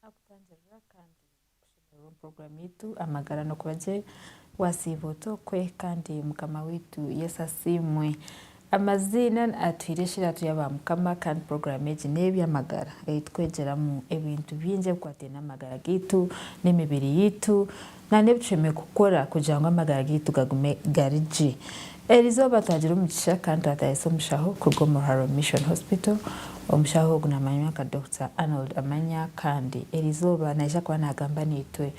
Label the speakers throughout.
Speaker 1: Naakutangirira kandi nakushemererwa omu puroguraamu yaitu Amagara n'okuba gye. Waasiiba ota okwe kandi Mukama waitu Yesu asiimwe. Amaziina atuhaire eshiratu ya Baamukama kandi puroguraamu egi n'ey'eby'amagara ei tukwegyeramu ebintu bingi ebikwataine n'amagara gaitu, n'emibiri yaitu. na n'ebi tushemereire kukora kugira ngu amagara gaitu gagume gari gye. Eri izooba twagira omugisha kandi twataahiisa omushaho kuruga omu Ruharo Mission Hospital. Omushaho ogu naamanywa nka Dokita Arnold Amanya kandi eri izooba naija kuba naagamba naitwe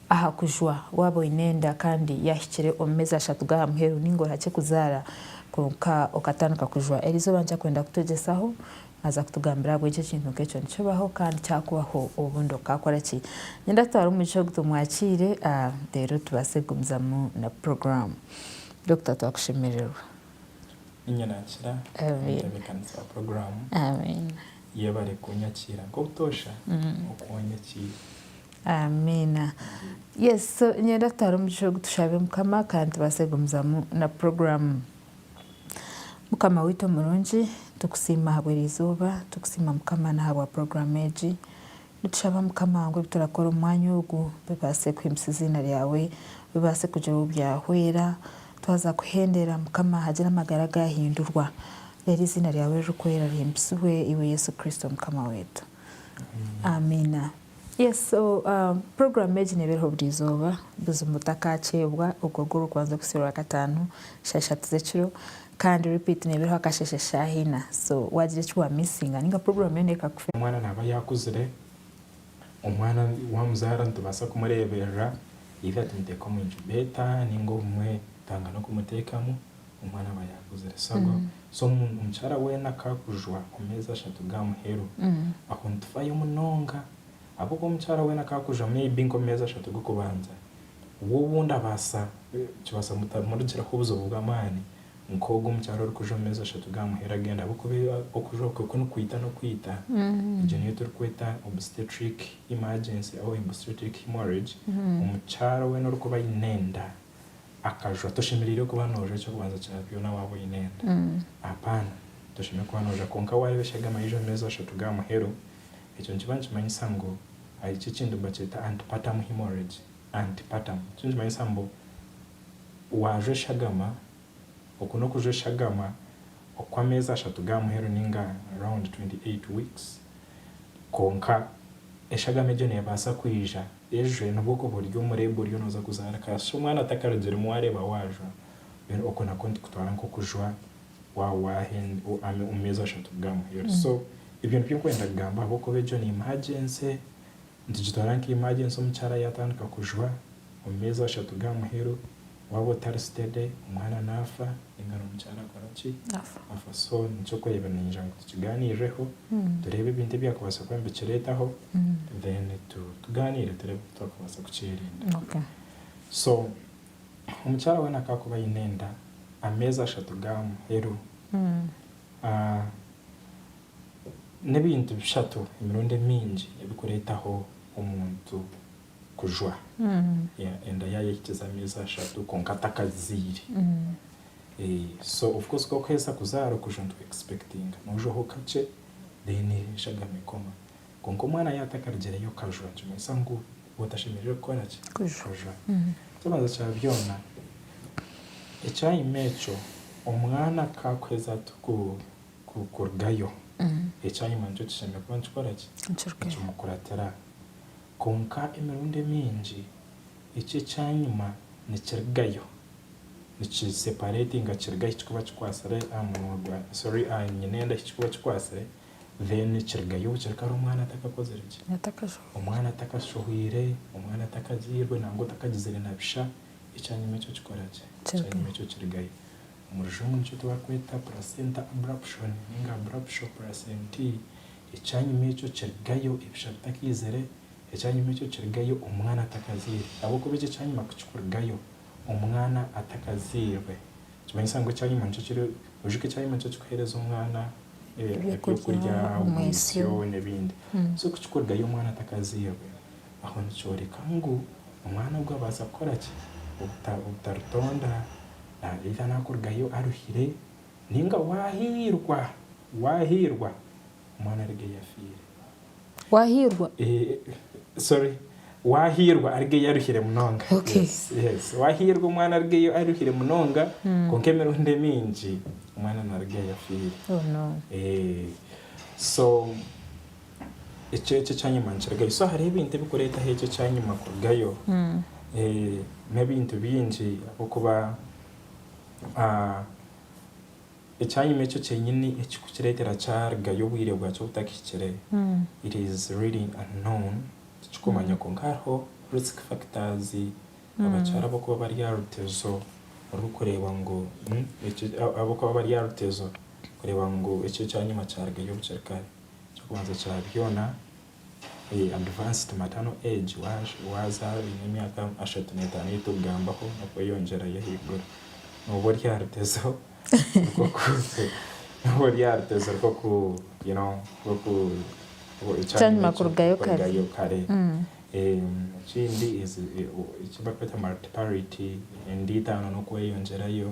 Speaker 1: aha kujwa waaba oine enda kandi yaahikire omu meezi ashatu g'aha muheru nainga orakye kuzaara kwonka okatandika kujwa. Eri izooba ninkyakwenda kutwegyesaho Aza kutugambira ahabw'enki ekintu nk'ekyo nikibaho kandi kyakubaho obundi okaakora ki. Niinyenda tutware omugisha ogu tumwakiire reero tubaase kugumizamu na puroguraamu. Dokita twakushemererwa. Niinye
Speaker 2: naakira omutebeekanisi wa puroguraamu. Amiina.
Speaker 1: Yebare
Speaker 2: kunyakiira nk'obutoosha oku wanyakiire.
Speaker 1: Amiina. Yes, so niinyenda tutware omugisha ogu tushabe Mukama kandi tubaase kugumizamu na puroguraamu. Mukama waitu omurungi, nitukusiima ahabwa eri izooba, nitukusiima Mukama n'ahabwa puroguraamu egi. Nitushaba Mukama ngu ebi turakora omu mwanya ogu bibaase kuhimbisa eiziina ryawe, bibaase kugira ou byahwera. Twaza kuhenderera Mukama hagire amagara agaahindurwa, reero eiziina ryawe ririkwera rihimbisibwe, iwe Yesu Kristo Mukama waitu. Amiina. Yes so program egi nebereho buri izooba buzima otakakyeebwa ogwo gwe orikubanza kuhitsya orwakataano shaaha ishatu zekiro Kandi repeat nebereho akasheshe shaaha ina so wagira eki wa missinga ninga program yoona ekakufeera. Omwana naba yakuzire,
Speaker 2: omwana wamuzaara nitubaasa kumureeberera either tumuteeke omu incubator ninga obumwe twanga n'okumuteekamu. omwana aba yaakuzire. Sabo, so omukyara weena ku akujwa omumeezi ashatu ga muheru, aho nitufayo munonga. Ahabw'okuba omukyara weena ku akujwa maybe nk'omumeezi ashatu g'okubanza, we obundi abaasa kibaasa kutamurugiraho obuzibu bw'amaani nk'ogu omukyara orikujwa omumeezi ashatu ga muheru agenda ahabw'okuba okujwa okwe ku nikwita n'okwita. Egyo niyo turikweta obstetric emergency or obstetric hemorrhage. Omukyara weena orikuba aine enda akajwa. Toshemereire kuba noojwa eky'okubanza kya byona waaba oine enda. Apaana. Toshemereire kuba noojwa. Kwonka waareeba eshagama yaija omu meezi ashatu ga muheru, ekyo nikiba nikimanyisa ngu ahari eki ekintu nibakyeta antepartum hemorrhage, antepartum. Nikyo nikimanyisa ngu waajwa eshagama Oku n'okuja eshagama okw'ameezi ashatu ga muheru ninga round 28 weeks. Kwonka eshagama egyo nebaasa kwija ejwe nibwo okuba ori omu labour oriyo noza kuzaara kashi omwana atakarugiremu wareeba wajwa mbwenu oku nakwo nitukutwara nk'okujwa waba wahenda omu meezi ashatu ga muheru so ebyo nibyo ndikwenda kugamba ahabw'okuba egyo ni emergency. Nitugitwara nka imagensi omukyara yatandika kujwa omu meezi ashatu ga muheru waaba otari sitede omwana naafa ninga n'omukyara akora ki? Afa. So nikikureba niinyija ngu tukigaaniireho tureebe ebintu ebyakubaasa kuba nibikireetaho then tugaaniire tureebe oku twakubaasa kukyerinda.
Speaker 1: So
Speaker 2: omukyara weena ku akuba aine enda ameezi ashatu ga muheru, N'ebintu bishatu emirundi emingi ebirikureetaho omuntu kujwa. Enda yaayo ehikize ameezi ashatu kwonka atakaziire. So of course ku orikuhitsya kuzaara okujwa nitukuexpectinga noojwaho kakye then eshagama ekoma. Kwonka omwana yaatakarugireyo kajwa nikimanyisa ngu otashemereire kukora ki? Kujwa. Eky'okubanza kya byona, ekyayima ekyo omwana ku arikuheza ku kurugayo. Ekyanyima nikyo kishemereire kuba nikikora ki? Nikimukuratira. Kwonka emirundi emingi eki ekyanyima nikirigayo, nikiseparatinga kiriga ahi kirikuba kikwatsire aha munwa gwa, sorry, aha nyina enda ahi kirikuba kikwatsire, then kirigayo obu kiri kare omwana atakakozire ki? Omwana atakashohwire, omwana atakagiirwe nangwa atakagizire na bisha, ekyanyima ekyo kikora ki? Ekyanyima ekyo kirigayo. Omu rujungu nikyo tibarikweta placenta abruption ninga abruptio placentae. Ekyanyima ekyo kirigayo ebisha bitakaizire, ekyanyima ekyo kirigayo omwana atakazairwe. Ahabw'okuba ekyo ekyanyima ku kikurigayo omwana atakazairwe, nikimanyisa ngu ekyanyima nikyo kiri, oijuka ekyanyima nikyo kikuheereza omwana ebyokurya, omwitsyo n'ebindi. So ku kikurigayo omwana atakazairwe, aho nikyoreka ngu omwana ogwo abaasa kukora ki? Obutaritonda. naabaire araakurugayo aruhire, nainga waahairwa, waahairwa omwana arigeyo afiire. Waahairwa?
Speaker 1: Eeh,
Speaker 2: sorry, waahairwa arigeyo aruhire munonga. Okay. Yes, yes.
Speaker 1: Waahairwa
Speaker 2: omwana arigeyo aruhire munonga, kwonka emirundi emiingi omwana naarugayo afiire. Oh no.
Speaker 1: Eeh,
Speaker 2: so ekyo ekyo ekyanyima nikirugayo so hariho ebintu ebikureetaho ekyo ekyanyima kurugayo n'ebintu bingi ahabw'okuba ekyanyima ekyo kyenyini ekikukireetera kyarugayo obwire bwakyo butakihikire it is really unknown tikirikumanywa kwonka hariho risk factors abakyara ab'okuba bari aha rutezo orikureeba ngu ekyo ahabw'okuba bari aha rutezo kureeba ngu ekyo ekyanyima kyarugayo bukye kare. Ekyokubanza kya byona advanced maternal age wazaara oine emyaka ashatu n'etaano ei turikugambaho n'okweyongyera yo ahaiguru nooba ori aha rutezo rw'okurugayo
Speaker 1: kare.
Speaker 2: Ekindi eki barikweta multiparity, enda itaano n'okweyongyerayo.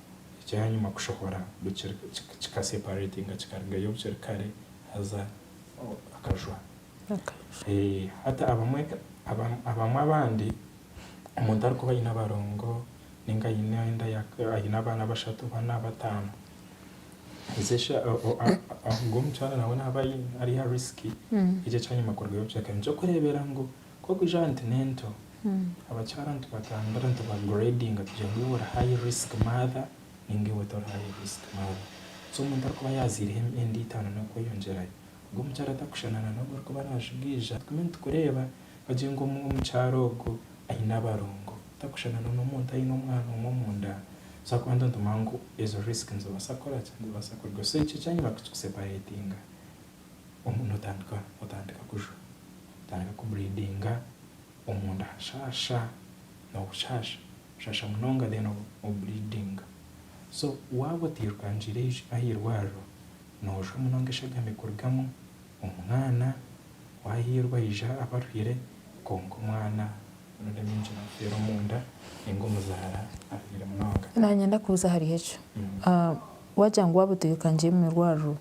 Speaker 2: ekyanyima kushohora kika separatinga kikarugayo obu kiri kare haza akajwa. Hati abamwe abandi omuntu arikuba aine abarongo ninga aine abaana bashatu, bana, bataano, haza eshwa ogwo mukyara nawe naaba ari aha risiki ekyo ekyanyima kurugayo obu kiri kare. Nikyo kureebera ngu Ku orikugira nti n'ento, abakyara nitubatambira nitubagiredinga kugira ngu iwe ori high risk mother ninga iwe tori high risk mother. So omuntu arikuba yaaziireho enda itaano n'okweyongyerayo, ogwo omukyara tarikushushana na n'ogu orikuba naajugiija. Tugume nitukureeba bagire ngu omukyara ogu aine abarongo tarikushushana na n'omuntu aine omwana omwe omu nda. So ahakuba nituba nitumanya ngu ezo risk nizibaasa kukora ki? Nizibaasa kurugaho. So ekyo ekyanyima kukikusepareetinga. omunda otandika otandika kujwa otandika ku bleedinga omunda hashaasha nobushasha bushasha munonga then o bleedinga so waaba otairukangire ahairwariro noojwa munonga eshagama ekurugamu omwana wahiirwa aija abarwire kwonka omwana that means kiri kufeera omunda ninga omuzaara arwire munonga. Nanye ndakubuza ahari
Speaker 1: ekyo, waagira ngu waaba otairukangire omu irwariro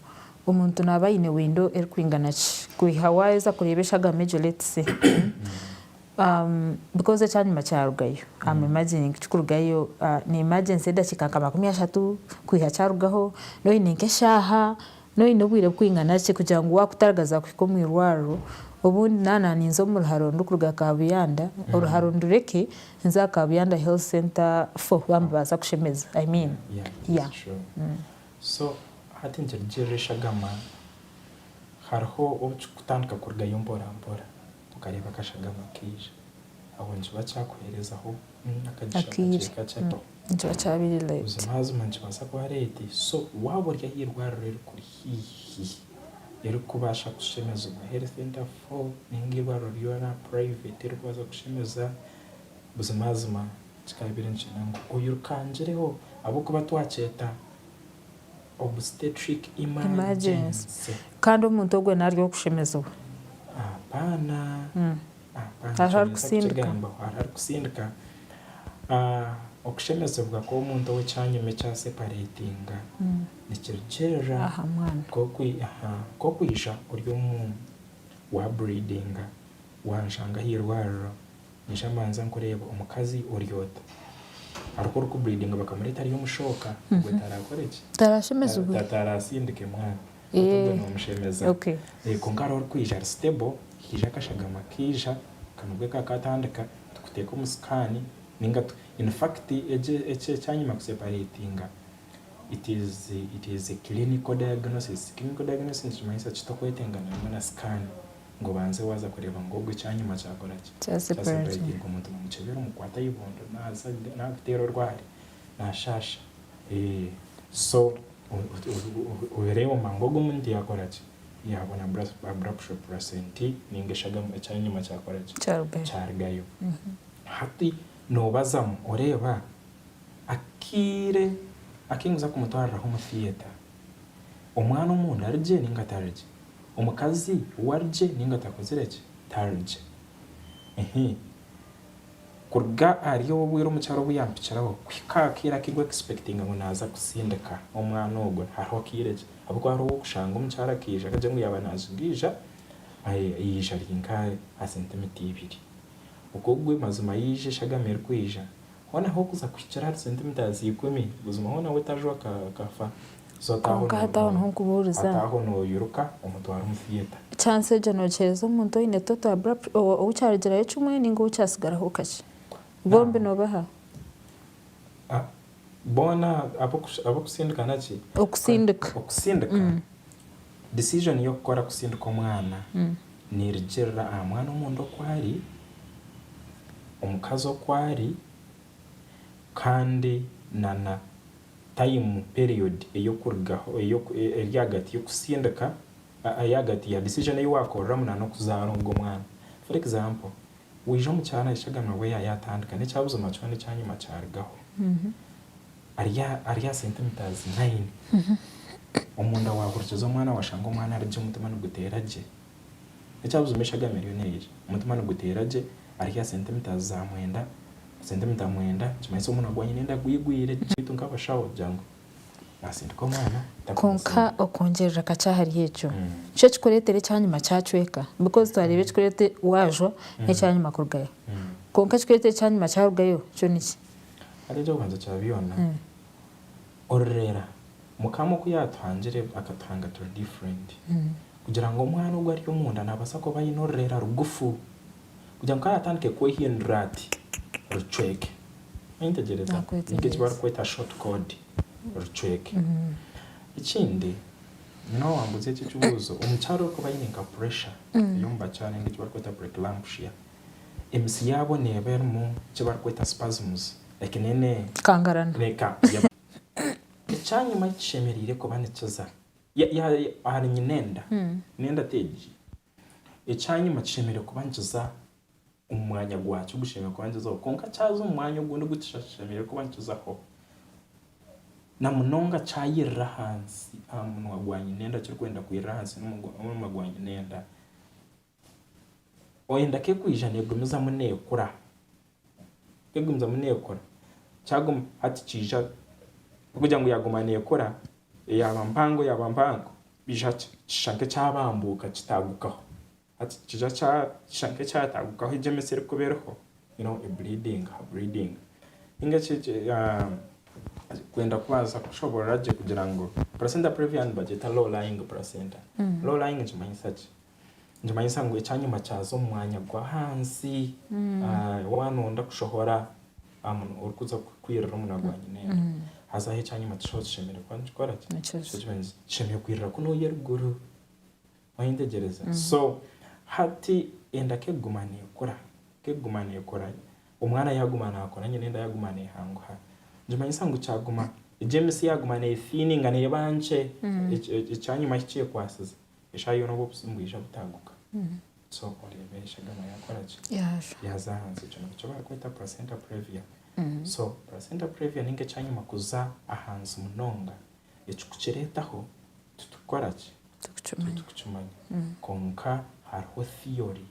Speaker 1: Omuntu naaba aine windo erikwingana ki kwiha waaheza kureeba eshagama egyo let's say because ekyanyima kyarugayo am imagining kikurugayo ni emergency edakiika nka makumi ashatu kwiha kyarugaho noine nk'eshaaha noine obwire bukwingana ki kugira ngu waakutagaza kuhika omu irwariro obundi naaba naaninza omu ruharo ndikuruga Kabuyanda oruharo ndureke nze aha Kabuyanda health center fo bambaasa kushemeza I mean yeah.
Speaker 2: So hati nikirugiirira eshagama, hariho obu kirikutandika kurugayo mporampora, okareeba akashagama kaija, aho nikiba kyakuheerezaho akagisha kakye kakye do. Nikiba kyabaire
Speaker 1: late. Buzimazima nikibaasa
Speaker 2: kuba late, so waaba ori aha irwariro erikuri haihi, erikukubaasa kushemezibwa, health interval, nainga eirwariro ryoona private erikubaasa kukushemeza, Buzimazima kikaabaire nikigira ngu oyirukangireho ahabw'okuba twakyeta obstetric emergency. Kandi omuntu
Speaker 1: ogwo naaryo okushemezibwa. Apaana.
Speaker 2: Hariho arikusindika. Hariho arikusindika. Okushemezibwa kw'omuntu ow'ekyanyima ekyasepareetinga nikirugiirira nk'okwija ori omu waaburiidinga, waanshanga aha irwariro. Ninshaba mbanze nkureebe omukazi ori ota? Aruka ori ku breedinga bakamureta ari omushooka obwe tarakore ki? Tarashemezibwe?
Speaker 1: Tarasindike mwana. Oti
Speaker 2: obwe nomushemeza. Kwonka
Speaker 1: hariho ori kwija
Speaker 2: ari stable, haija akashagama kaija akanobwe kakatandika tukuteeka omu scan ninga tu in fact egi eki ekyanyima ku separatinga it is it is clinical diagnosis. Clinical diagnosis nikimanyisa ki? Tokwetenga na scan. ngu obanze waaza kureeba ngu ogwo ekyanyima kyakora ki, kyasipuraidinga omuntu namukyebera omukukwata eibondo naaza naakuteera orwari naashaasha so oreeba omanya ngu ogwo omuntu yaakora ki, yaabona abura kushupura sente nainga shi ekyanyima kyakora ki, kyarugayo. Hati noobazamu oreeba akaire aku ndikuza kumutwariraho omu theatre Omwana omunda ari gye ninga tari gye? Omukazi we ari gye ninga takozire ki? Tari gye. Ehe. Kuruga ahari obwo obwire omukyara obu yampikiraho kuhika aha kaire aku iri expectinga ngu naaza kusindika omwana ogwe, hariho akaire ki? Ahabw'okuba hariho ow'okushanga omukyara akaija akagira ngu yaaba naaziga ija, yaija ari nk'aha sentimita ibiri. Okwo gwe mazima yaija eshagama erikwija. Hoona h'oku za kuhikira ahari sentimitaazi za ikumi, buzima hoona we tajwa ka, kafa. So ataaho Kwonka nooyiruka.
Speaker 1: hataho n'okubuuriza. Ataaho nooyiruka
Speaker 2: omutware omu theatre. Chance egyo noogiheereza
Speaker 1: omuntu oine toto abrupt, ou, ou kyarugirayo kimwe nainga ou kyatsigaraho kakye? Bombi noobaha? Ah,
Speaker 2: boona ab'okush, ab'okusindika naki? Okusindika. Okusindika, decision y'okukora kusindika omwana, Niirikirira aha mwana omunda oku ari, omukazi oku ari, kandi na na tayimu, period, ey'okurugaho, eri ahagati y'okusindika, eri ahagati ya decision ei waakoreramu na n'okuzaara ogwo mwana. For example, waija omu kyaro nahitsya agamba ngu yaaye atandika n'ekyabuzima kyona ekyanyima kyarugaho. Ari ari aha sentimitaazi naini omunda waahurikiza omwana waashanga omwana ari gye omutima niguteera gye. N'ekyabuzima eshagama eriyo neija, omutima niguteera gye ari aha sentimitaazi za mwenda, sentimita mwenda nikimanyisa omwana gwanyu nenda gwigwire gye. Beitu nk'abashaho kugira ngu naatsindika omwana Kwonka takwasire.
Speaker 1: okwongyerera kakye ahari ekyo, nikyo ekikureetera ekyanyima kyacweka because twareeba ekikureete waajwa n'ekyanyima kurugayo. Kwonka ekikureetera ekyanyima kyarugayo kyo niki? Haza eky'okubanza
Speaker 2: kya byona, ororera Mukama oku yaatuhangire akatuhanga turi different kugira ngu omwana ogu ari omunda naabaasa kuba aine orurera rugufu kugira ngu ku araatandike kwehindura ati rucweke. Wayetegyereza? Ni nk'eki barikweta short cord, rucweke. Ekindi, nyowe waambuuza eki ekibuuzo, omukyara orikuba aine nka pressure ey'omu bakyara ninga eki barikweta pre-clamshia, Emitsi yaabo neeba erimu eki barikweta spasms, like ne. Kangarana. Neka. Ekyanyima eki kishemereire kuba nikiza. Ya, ya, ahari nyina enda. N'enda ti egi. Ekyanyima kishemereire kuba nikiza omu mwanya gwakyo ogushemereire kuba nikizaho. Kwonka kyaza omu mwanya ogundi ogu tikishemereire kuba nikizaho, na munonga kyayirira ahansi aha munwa gwa nyina enda kirikwenda kwirira ahansi n'omunwa gwa nyina enda, oyenda ku ekwija negumizamu nekura, ku egumizamu nekura, kyaguma hati kiija tikugira ngu yaguma nekura, yaba mpango yaba mpango kiija kishusha nka ekyabambuka kitagukaho, hati kiija kishusha nka ekyatagukaho egyo emitsi erikuba eriho you know ebreedinga habreedinga ninga eki kwenda kubanza kushoborora gye kugira ngu placenta previa nibagyeta low lying placenta, low lying nikimanyisa ki? Nikimanyisa ngu ekyanyima kyaza omu mwanya gw'ahansi waaba nooyenda kushohora orikuza kwirira omu munaku gwa nyineenda. Haza aho ekyanyima tikishuba kishemereire kuba nikikora ki? Kishemereire kwirira kunu ori eriguru. Wayetegyereza? So hati enda ku erikuguma neekura, ku erikuguma neekura, omwana yaaguma naakura, nyineenda yaaguma neehanguha, nikimanyisa ngu kyaguma, egyo emitsi yaaguma neefiininga neeba nkye, ekyanyima ahu kyekwasize. Eshaaha yoona obu obuzimu bwija butaaguka, so oreeba eshagama yaakora ki? Yaaza ahansi. Ekyo nikyo barikweta placenta previa. So placenta previa nainga ekyanyima kuza ahansi munonga, ekikukireetaho titurikukora ki? Titurikukimanya. Kwonka hariho theory,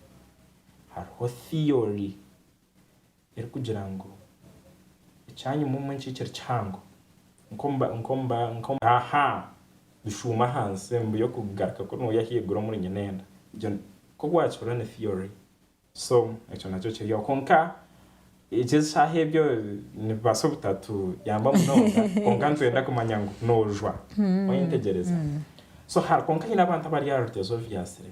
Speaker 2: hariho theory. erikugira ngu, Ekyanyima omu enkikire kihango nk'omu. Aha! Bishuuma ahansi mbu y'okugaruka kunu ori ahaiguru omuri Nyinenda. Egyo ku bwakibura ni theory. So ekyo nakyo kiri aho. Kwonka egi eshaaha ebyo nibibaasa obutatuyamba munonga kwonka nitwenda kumanya ngu noojwa. Oyentegyereza? So kwonka haine abantu abari aha rutegyereza oru byatsire.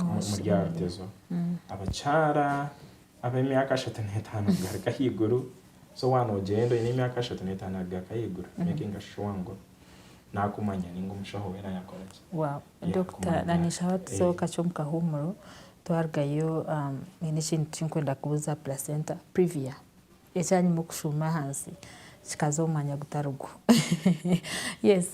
Speaker 2: Omuri Arutezo, abakyara ab'emyaka ashatu n'etaano kugaruka ahaiguru, so waaba noogyenda oine emyaka ashatu n'etaano kugaruka ahaiguru, making a sure ngu naakumanya nainga omushaho weena yaakora ki? Dokita,
Speaker 1: nanyija waatuzaho kakye omu kahuumuro, twarugayo nyine ekintu eki ndikwenda kubuuza aha placenta, Privia. Ekyanyima okushuuma ahansi kikaza omu mwanya gutari gwo. Yes,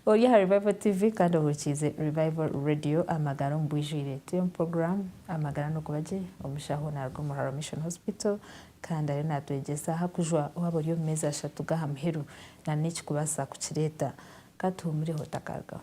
Speaker 1: ori aha Revival TV kandi ohurikiize Revival Radio Amagara omu Bwijwire. Turi omu puroguraamu Amagara N'okuba Gye. Omushaho naaruga omu Ruharo Mission Hospital kandi ariyo naatwegyesa aha kujwa waaba ori omu meezi ashatu g'aha muheru nana ekirikubaasa kukireeta. Ka tuhuumireho otakarugaho.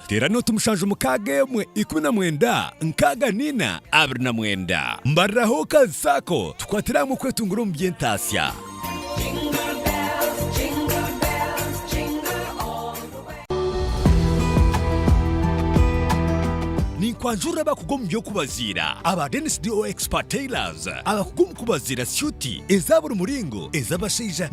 Speaker 3: Teera nooti mushanju mukaaga emwe ikumi na mwenda nkaaga naina abiri na mwenda. Mbariraho ka saako tukwatire ahamwe okwetunguura omu by'entaatsya. Ninkwanjurira abakugu omu by'okubaziira aba Dennis DO Expert Tailors abakugu omu kubaziira syuuti eza buri muringo, ez'abashaija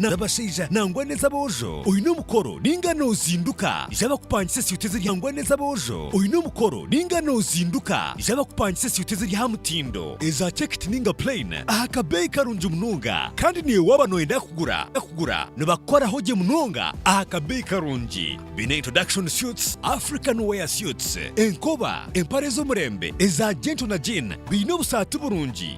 Speaker 3: nangwa n'ez'aboojo. oine omukoro ninga nozinduka ija bakupangisa esuuti eziri hangwa n'ez'aboojo oine omukoro ninga nozinduka ija bakupangisa esuuti eziri aha mutindo eza cekiti ninga plain aha kabeeyi karungi munonga kandi naiwe waaba noyenda kugura kugura nibakukoraho gye munonga aha kabeeyi karungi baine introduction suits, African wear suits, enkoba, empare z'omurembe eza gentle na jean baine obusaati burungi.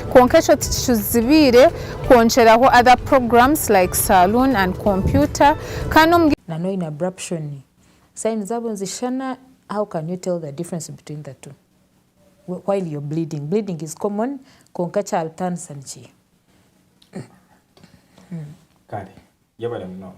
Speaker 4: Kwonka ekyo tikizibiire kwongyeraho other programs like saloon and computer kandi omu. Nana oyine abruption
Speaker 1: sign zabo nizishushana how can you tell the difference between the two while you're bleeding? Bleeding is common kwonka ekyabitaanisa nikiiha?
Speaker 2: Kare yabare munonga.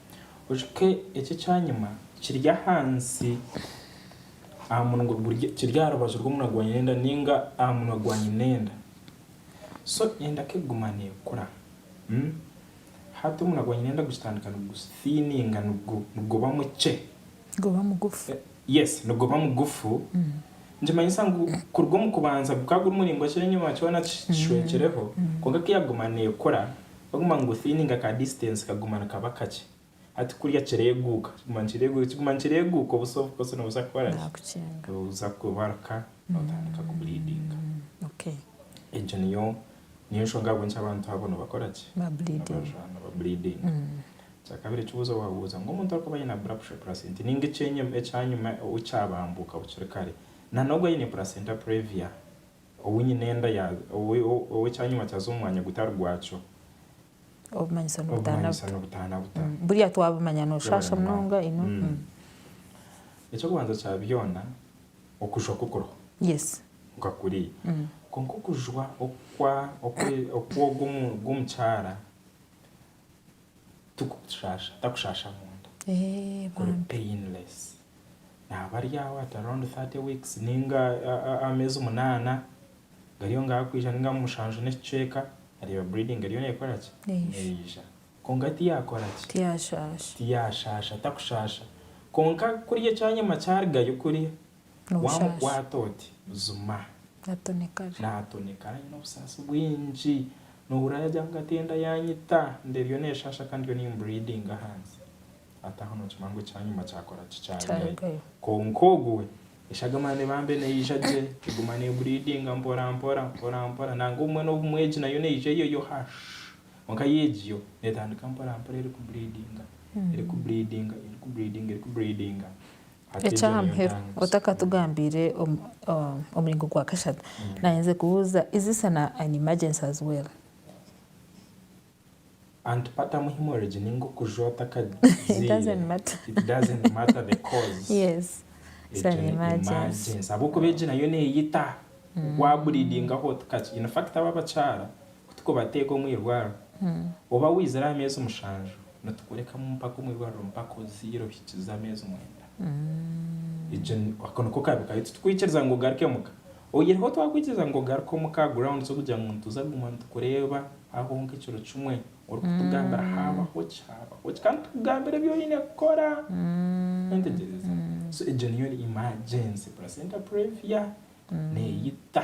Speaker 2: Ojuke eki ekyanyima kiri ahansi aha munwa kiri aha rubaju rw'omunwa gwa nyinenda ninga aha munwa gwa nyinenda. So enda ku ekuguma nekura. Hati omunwa gwa nyinenda gukitandika nigusifininga niguba mukye. Niguba mugufu.
Speaker 1: Yes niguba
Speaker 2: mugufu. Nikimanyisa ngu kuruga omu kubanza gukaba guri muraingwa kyenyima kyona kishwekireho. Kwonka ku yaguma nekura Baguma niguthininga ka distance kaguma nikaba kakye hati kurya kireguuka kiguma nikireguuka kiguma nikireguuka obusa obukosi nobuza kukora ki? Nobuza kwebaruka notandika ku bleedinga
Speaker 1: egyo niyo
Speaker 2: niyo nshonga ahabw'enki abantu abo nibakora ki?
Speaker 1: Niba bleedinga.
Speaker 2: Ekyakabiri ekibuzo wabuuza ngu omuntu arikuba ayine abruption ya placenta ninga ekyenyima ekyanyima owu kyabambuka bukiri kare na nogu ayine placenta previa Ou nyine enda ya, ou, ou ekyanyima kyaza omu mwanya gutari gwakyo.
Speaker 1: Obumanyisa n'obutaana Obumanyisa buta. n'obutaana buta. Mm, Buriya twabumanya Yabare nooshaasha munonga. munonga, you know. Mm. Mm.
Speaker 2: Eky'okubanza kya byona, okujwa ku kuriho Yes. nka
Speaker 1: kuriya.
Speaker 2: Mm. Kwonka okujwa okwa, okwe, okw'ogu omu- gw'omukyara Tikukushasha, takushasha munda. Eeh Kuri bambi. painless. Naba ari aho at around 30 weeks ninga ameezi munana gari aho ngaho akwija ninga mushanju n'ekicweka areeba breeding eriyo nekora ki? Neija. Neija. Kwonka tiyakora ki? Tiyashasha. Tiyashasha, takushasha. Kwonka kuriya ekyanyima kyarigayo kuriya n'obushaashi.
Speaker 1: Waamukwata oti,
Speaker 2: buzima. Naatonekara. Naatonekara aine obusaasi bwingi. Noohurira yaagira ngu ati enda yaanyita, enda eriyo neeshaasha kandi ndiyo nimburiidinga ahansi. Hati aho nookimanya ngu ekyanyima kyakora ki? Kyarugayo. Kwonka ogu we, eshaga mara neeba mbe neija gye, eguma neeburiidinga mporampora, mporampora. Nangwa obumwe n'obumwe egi nayo neija eyo yo ha shi! Kwonka yo egi yo neetandika mporampora erikuburiidinga, erikuburiidinga, erikuburiidinga, erikuburiidinga. Eky'ahamuheru,
Speaker 1: otakatugambiire omuringo gwa kashatu, naayenzire kubuuza, is this an emergency as well?
Speaker 2: Antipater mu hemorrhage ninga okujwa otakagiire, it doesn't
Speaker 1: matter, it doesn't matter the cause,
Speaker 2: yes, it's
Speaker 1: an emergency, ahabw'okuba egi nayo
Speaker 2: neeyita, waaburiidingaho otakakigire, in fact abo abakyara Ku turikubateeka omu irwariro oba waizire aha meezi mushanju, nitukurekamu mpaka omu irwariro mpaka ozaire ohikize ameezi mwenda. Egyo ni, ako niko kabi kayo. Titukwikiriza ngu ogaruke omuka. Oyihireho twakwikiriza ngu ogaruke omuka aha grounds z'okugira ngu nituza kuguma nitukureeba aho nk'ekiro kimwe orikutugambira haabaho ki, haabaho ki, kandi tukugambira ebi oine kukora. Wetegyereza? So egyo niyo emergency placenta previa neeyita.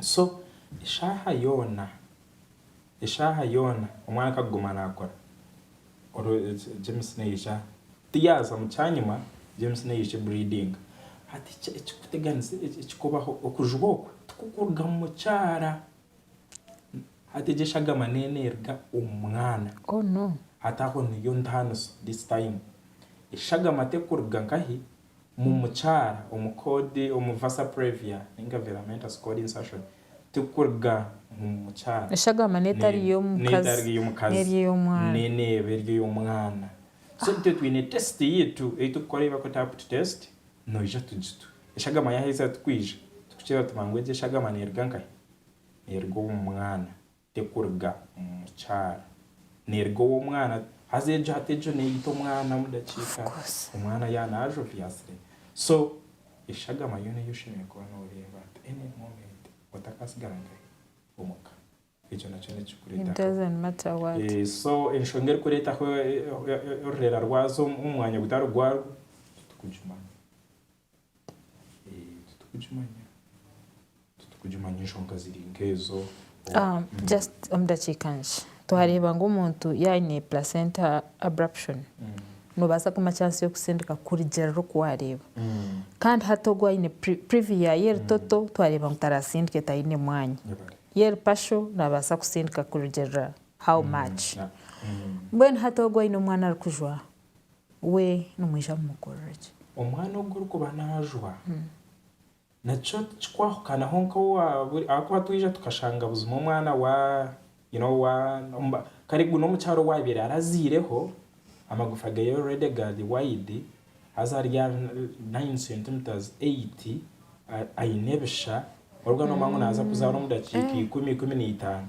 Speaker 2: So eshaaha yoona, eshaaha yoona omwana ku arikuguma naakora, James naija, ti yaaza mu kyanyima, James naija ki breedinga. Hati ekirikuteganisa, ekirikubaho, okujwa okwe tikukuruga mu mukyara. Hati egyo eshagama nayo neeruga omu mwana. Hati aho niyo ntaaniso this time. Eshagama terikuruga nkahi? Mu mukyara omu code omu Vasa Previa ninga Veramentas Code Insertion tikuruga mu mukyara Eshagama n'etari
Speaker 1: n'etari ey'omukazi ey'omwana.
Speaker 2: n'eneeba eri ey'omwana. So itwe twine test yaitu ei turikukora ei barikweta apti test noija tugitu. Eshagama yaaheza twiija, turikukira tuba ngu egi eshagama neeruga nkahi? Neeruga omu mwana. Tekuruga omu mukyara, neeruga ow'omwana. Haza egyo hati egyo neeyita omwana omu dakiika, omwana ya naaza obyasire. So eshagama yoona ei oshemereire kuba nooreeba at any moment otakatsigara nka haihi omu ka, ekyo nakyo nikikureetaho.
Speaker 1: So enshonga
Speaker 2: erikureetaho orureera rwazo omu mwanya gutari gwarwo, titukugimanya.
Speaker 1: Twareeba ngu omuntu yaaba aine placenta abruption, noobaasa kumuha chance y'okutsindika kurugiirira oku waareeba. Kandi hati ogwo aine PrEP y'ebitoto twareeba ngu taratsindike taine mwanya. Y'eri partial naabaasa kutsindika kurugiirira how much. Mbwenu hati ogwo aine omwana arikujwa. we nimwija mumukorera ki? Omwana ogu orikuba
Speaker 2: naajwa, nakyo tikikwahukanaho nk'owaburi ahakuba twija tukashanga buzima omwana wa you know wa kare gu n'omukyara owaabaire araziireho, amagufa ge already gari wide, haza ari aha nayini centimetres, eyiti, aine ebisha, konka nooba ngu naaza kuzaara omu dakiika ikumi, ikumi naitaano.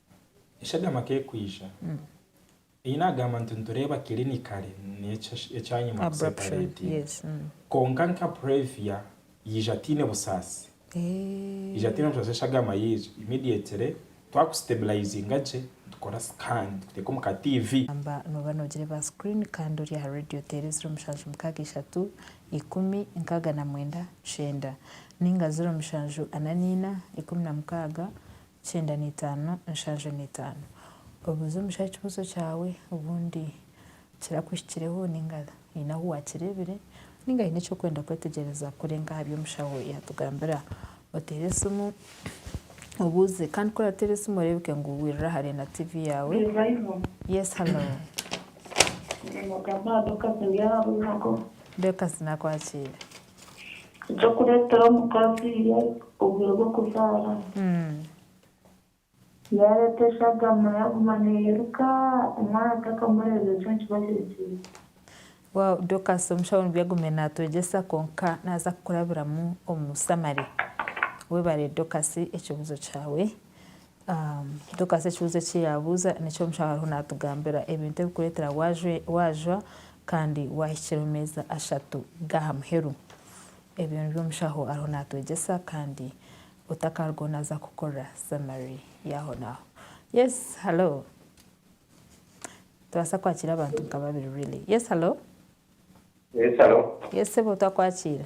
Speaker 2: Eshagama k'ekwija, ei naagamba nti nitureeba kirinikare n'eki ekyanyima kusepareetinga.
Speaker 1: Kwonka nka
Speaker 2: Previa yaija ataine busaasi. Yaija ataine busaasi eshagama yaija immediately twakusitebulayizinga gye nitukora scan tukuteeka omu ka TV. Gamba nooba noogire
Speaker 1: ba screen kandi ori aha radio oteere ziro mushanju mukaaga ishatu ikumi nkaaga na mwenda kyenda nainga ziro mushanju ana naina ikumi na mukaaga Kyenda na itaano nshanju na itaano. Obuuze omushaija ekibuuzo kyawe obundi kirakuhikireho ninga haine ahu wakireebire ninga haine eki orikwenda kwetegyereza kurenga aha bi omushaho yaatugambira. Oteere esimu obuuze kandi ku orateera esimu oreebeke ngu wiirira aha Reena TV yaawe. Yes hello. Dorcas naakwakiire.
Speaker 5: Eky'okureetera omukazi obwire bw'okuzaara. Yaareeta eshagama yaaguma neeyiruka, omwana takamureeba,
Speaker 1: ekyo nikiba kirikihi? Wow Dorcas omushaho nibyo agume naatwegyesa kwonka naaza kukurabiramu omu summary. Webare Dorcas ekibuzo kyawe. Dokaasi ekibuuzo eki yaabuuza nikyo omushaho ariho naatugambira ebintu ebirikureetera waajwa kandi waahikira omu meeza ashatu g'aha muheru. Ebyo nibyo omushaho ariho naatwegyesa kandi otakaarugaho naaza kukora summary yaahonaaho. Yes, hello. Nitubaasa kwakiira abantu nka babiri really. Yes, hello. Yes,
Speaker 6: hello. Yes, sebo twakwakiira.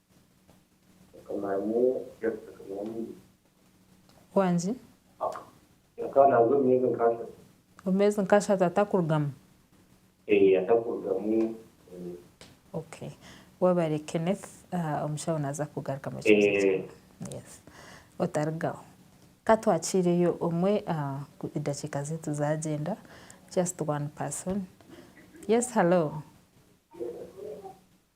Speaker 1: Wangi?
Speaker 6: Omumezi nkashatu
Speaker 1: atakurugamu? Okay. Webare Kenneth, omushaho naza kugarukamu ekibuzo kyawe. Yes. Otarugaho. Ka twakiireyo omwe edakiika zeitu zagyenda. Just one person. Yes, hello.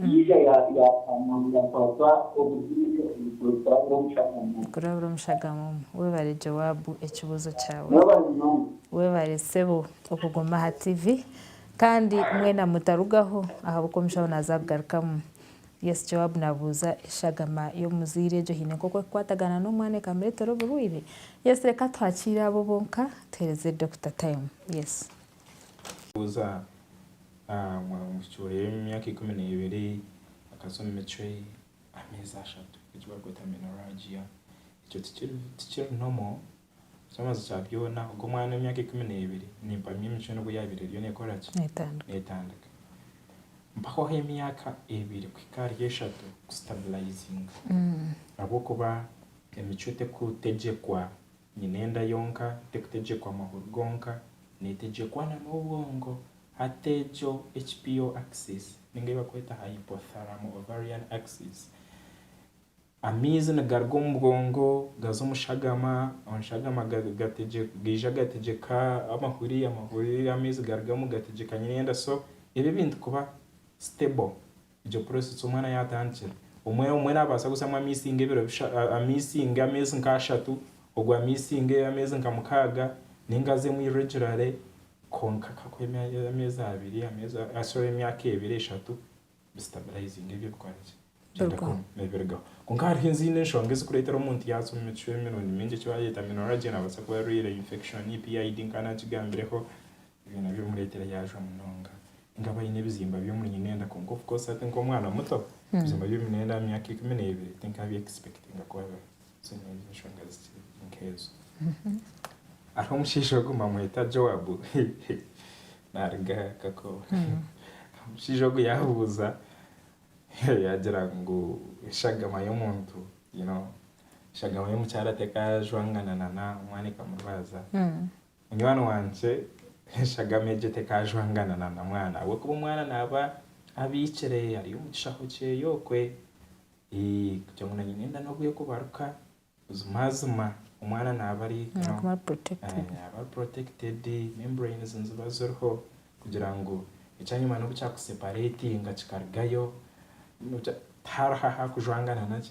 Speaker 6: Yiga yaataamirira kwasa obuziimire
Speaker 1: omu kiro kurabira omushagama. Kurabira omushagama omu. Webare Joabu ekibuzo kyawe. Webare munonga. Webare sebo okuguma aha TV kandi mwena mutarugaho ahabwokuba omushaho naza kugarukamu. Yes Joabu nabuuza eshagama yomuzaire egyo haine nkoku ekukwatagana nomwana ekamuretera oburwaire? Yes reka tuhakiire abo bonka tuhereze Dokita time. Yes. Buuza
Speaker 2: omwishiki wa emyaka ikumi n'ebiri akazwa omu micwe ameezi ashatu, eki barikweta menorrhagia. Ekyo tikiri normal. Eky'omubazi kya byona ogwo omwana ow'emyaka ikumi n'ebiri nimpamya emicwe nibwo yaabaire eriyo neekora ki? Neetandika. Mpaho ah'emyaka ebiri kuhika ahari eshatu kusitabilayizinga ahabw'okuba emicwe terikutegyeerwa Nyine enda yonka, tekutegyekwa amahuri gonka, netegyekwa na n'obwongo. Hati egyo HPO axis ninga ei bakweta hypothalamo-ovarian axis. Amaizi nigaruga omu bwongo gaza omu shagama, omu shagama gaija gategyeka amahuri, amahuri amaizi garugamu gategyeka nyine enda so ebi ebintu kuba stable Egyo process omwana yatandikira omwe omwe nabaasa kuzamu amaizi nka ebiro bisha amaizi nka ameezi nka ashatu ogwo amaizi nka ameezi nka mukaaga ninga azemu irregularly kwonka akakora emya ameezi abiri ameezi a sorry emyaka ebiri eshatu bi stabilizinga ebyo bikore ki Birugaho. bigende birugaho kwonka hariho ezindi enshonga ezikureetera omuntu yaaza omu micwe emirundi mingi eki barikweeta menorrhagia nabaasa kuba arwaire infection, PID nkanagigambireho Byona byomuretera yajwa munonga inga aba ayine ebizimba byomunyinenda konka of course hati nkomwana muto ebizimba byomunenda mumyaka ikumi nebiri tinka bi expectinga kubabeho so nebyo enshonga zikiri nkezo hariho omushaija ogu bamweta Joab naruga kakobe omushaija ogu yabuza yagira ngu eshagama yomuntu you know eshagama yomukyara tekajwangana nana omwana ekamurwaza Munywani wangye, enshagama egyo tekaajwangana na na mwana ahabw'okuba omwana naaba abiikire ari omu kishaho kye okwe. Ii, kugira ngu naanye nenda n'obwe kubaruka buzimazima. Omwana naaba ari, you know, Naaguma ari protected. eeh, naaba ari protected, membranes niziba ziriho kugira ngu ekyanyima n'obu kyakusepareetinga kikarugayo, nogira, tihariho ahaakujwangana nagye.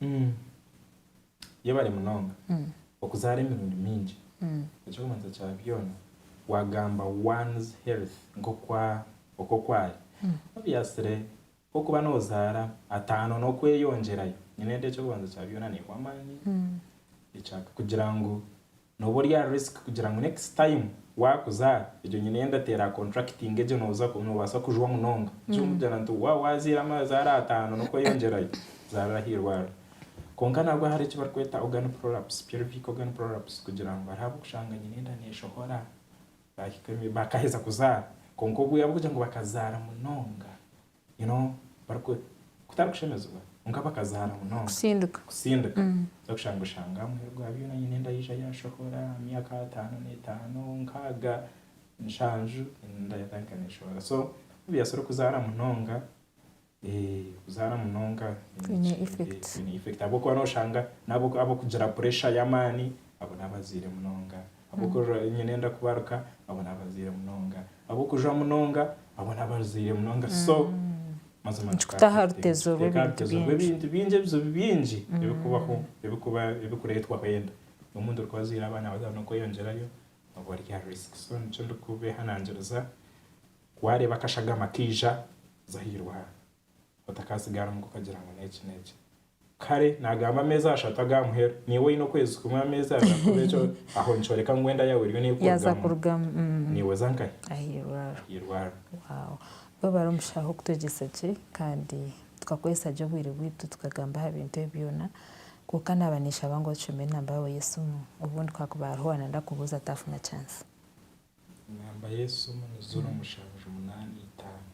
Speaker 1: Mm.
Speaker 2: Yebare munonga okuzaara emirundi mingi. Ekyokubanza kya byona wagamba one's health nk'oku oku ari. Obviously ku okuba nozaara ataano n'okweyongyerayo, nyine ndi ekyokubanza kya byona niiwe amaani, ekya kugira ngu Noba ori aha risk kugira ngu next time wakuza egyo nyine yenda ateera aha contracting egyo noza nobasa kujwa munonga gye omujana nti wa waziira amazaara ataano nokweyongyerayo zarira aha irwariro. Kwonka nabwo hariho eki bari kweta organ prolapse, pelvic organ prolapse, kugira ngu hariho abu kushanga nyine enda neshohora bahika bakaheza kuzaara kwonka obwiire abu kugira ngu bakazaara munonga you know bari ku kutari kushemezibwa kwonka bakazaara munonga Kusindika. kusindika Mm. oza kushanga oshanga omuheru gwa byona aine enda yaija yashohora myaka ataano n'etaano nkaaga nshanju enda yatandika neshohora so may be yasobora okuzaara munonga kuzaara munonga Kwine effect.
Speaker 1: kwine effect ahabw'okuba noshanga
Speaker 2: n'abokugira pressure y'amaani abo n'abazaire munonga. Ab'okurora emiina enda kubaruka, abo n'abazaire munonga. Ab'okujwa munonga, abo n'abazaire munonga. So, mazima nikutaho aha rutezo
Speaker 1: rw'ebintu
Speaker 2: bingi, ebizibu bingi ebirikubaho, ebirikureetwaho enda. Omuntu orikuba azaire abaana baza n'okweyongyerayo, oba ori aha risk. So nikyo ndikubeehanangiriza, waareeba akashagama kaija, za aha irwariro. otakatsigara omu ka okagira ngu n'eki n'eki. Kare nagamba ameezi ashatu aga muheru, niiwe oyine okwezi kumwe ameezi abiri ahakuba ekyo aho nikyoreka ngu enda yaawe eriyo nekurugamu,
Speaker 1: niiwe oza nkahi?
Speaker 2: Ahirwaro.
Speaker 1: Webare omushaho kutwegyesa gye kandi tukakozesa gye obwire bwaitu tukagamba aha bintu ebi byoona kwonka naba neshaba ngu otushomere enamba yaawe y'esimu obundi kakuba hariho owanayenda kubuuza atafuna chance. Enamba
Speaker 2: y'esimu ni ziro mushanju munaana itaano.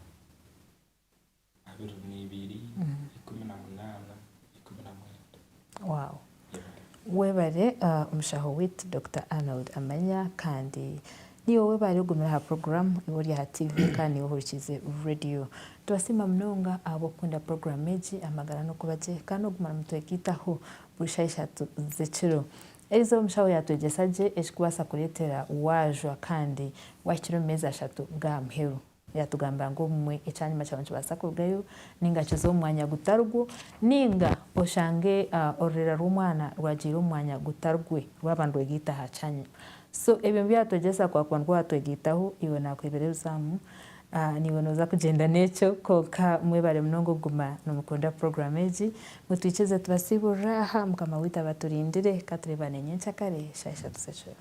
Speaker 1: Webare mushaho witu Dokita Arnold Amanya kandi niiwe webare ogumire aha puroguramu niiwe ori aha tiivi kandi niiwe ohurikiize reediyo. Nitubasiima munonga ahabw'okukunda puroguramu egi Amagara n'okuba gye kandi n'okuguma nimutwegaitaho buri shaaha ishatu z'ekiro. Erizooba omushaho yaatwegyesa gye ekirikubaasa kureetera waajwa kandi waahikire omu meezi ashatu g'aha muheru. Yatugambira ngu obumwe ekyanyima kyawe nikibaasa kurugayo nainga kize omu mwanya gutari gwo, nainga oshange orureera rw'omwana rwagiire omu mwanya gutari gwe rwaba nirwegaita aha kyanyima. So ebyo nibyo yatwegyesa kwaakuba nikwo waatwegaitaho, iwe naakuheebera ebizaamu, naiwe nooza kugyenda n'ekyo. Kwonka mwebare munonga okuguma nimukunda puroguraamu egi. Mutwikize tubasiiburire aha, Mukama waitu abaturindire. Ka tureebane nyenkya kare, shaaha ishatu z'ekiro.